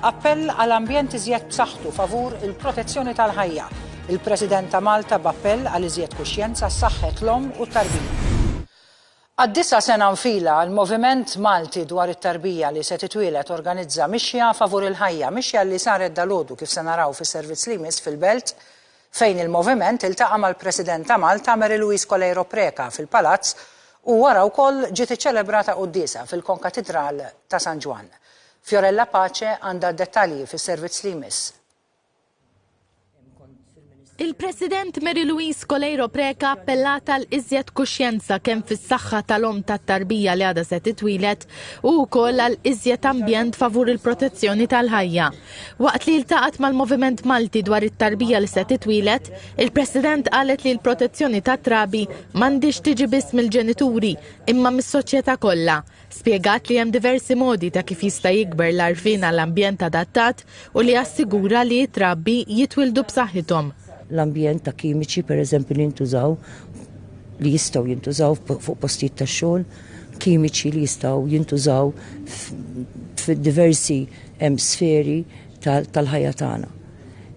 Appell għal ambjent iżjed b'saħħtu favur il-protezzjoni tal-ħajja. Il-President ta' Malta b'appell għal iżjed kuxjenza saħħet l-omm u t-tarbija. Għad-disa' sena nfila, il-Moviment Malti dwar it-Tarbija li se titwieled organizza mixja favur il-ħajja, mixja li saret dalgħodu kif se naraw fis-servizz li jmiss fil-Belt. fejn il-Moviment iltaqa' mal-President ta' Malta Mary Louise Coleiro Preca fil-Palazz u wara wkoll ġiet iċċelebrata quddiesa fil-Konkatidral ta' San Ġwann. Fiorella Pace għandha d-dettalji fis-servizz li jmiss. Il-President Mary Louise Coleiro Preca appellat għal iżjed kuxjenza kemm fis-saħħa tal-omm tat-tarbija li għadha se titwieled u wkoll għal iżjed ambjent favur il-protezzjoni tal-ħajja. Waqt li ltaqgħet mal-Moviment Malti dwar it-tarbija li se titwieled, il-President qalet li l-protezzjoni tat-trabi m'għandhiex tiġi biss mill-ġenituri imma mis-soċjetà kollha. Spjegat li hemm diversi modi ta' kif jista' jikber l-għarfien għal ambjent adattat u li assigura li t-trabi jitwieldu b'saħħithom. L-ambjent ta' kimiċi, pereżempju, li jintużaw, li jistgħu jintużaw fuq postijiet tax-xogħol. kimiċi li jistgħu jintużaw f'diversi sferi tal-ħajja tagħna.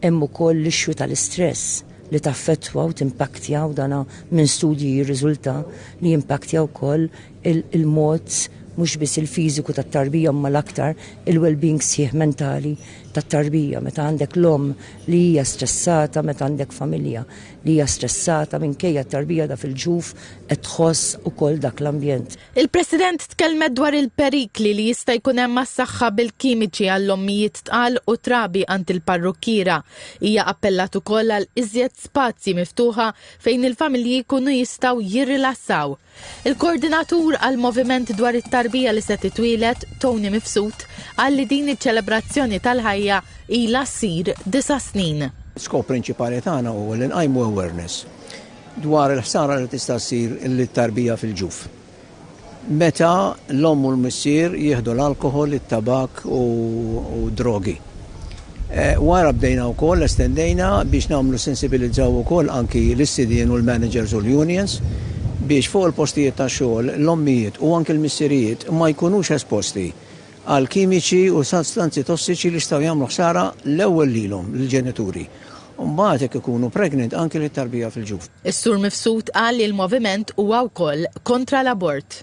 Hemm ukoll l-issue tal-istress li taffettwa u timpaktja u dana minn studji jirriżulta li jimpaktja wkoll il-mod mhux biss il-fiżiku tat-tarbija ma l-aktar il-well-being sħiħ mentali tat-tarbija meta għandek l-omm li hija stressata meta għandek familja li hija stressata minkejja t-tarbija ta' fil-ġuf qed tħoss ukoll dak l-ambjent. Il-President tkellmet dwar il-perikli li jista' jkun hemm għas-saħħa bil-kimiċi għall-ommijiet tqal u trabi għand il-parrukkiera. Hija appellat ukoll għal iżjed spazji miftuħa fejn il-familji jkunu jistgħu jirrilassaw. Il-Koordinatur għall-Moviment dwar it-Tarbija li se titwieled, Tony Mifsud, qal li din iċ-ċelebrazzjoni tal-ħajja ilha ssir disa' snin. Skop prinċipali tagħna huwa li nqajmu awareness dwar il-ħsara li tista' ssir lit-tarbija fil-ġuf meta l-omm u l-missier jieħdu l-alkoħol, it-tabakk u d-drogi. Wara bdejna wkoll estendejna biex nagħmlu sensibilizzaw ukoll anki lis-sidien u l-managers u l-unions biex fuq il-postijiet tax-xogħol l-ommijiet u anki l-missirijiet ma jkunux esposti għal kimiċi u sostanzi tossiċi li jistgħu jagħmlu ħsara l-ewwel lilhom, lill-ġenituri, u mbagħad jekk ikunu pregnant anki lit-tarbija fil-ġuf. Is-Sur Mifsud qal li l-moviment huwa wkoll kontra l-abort.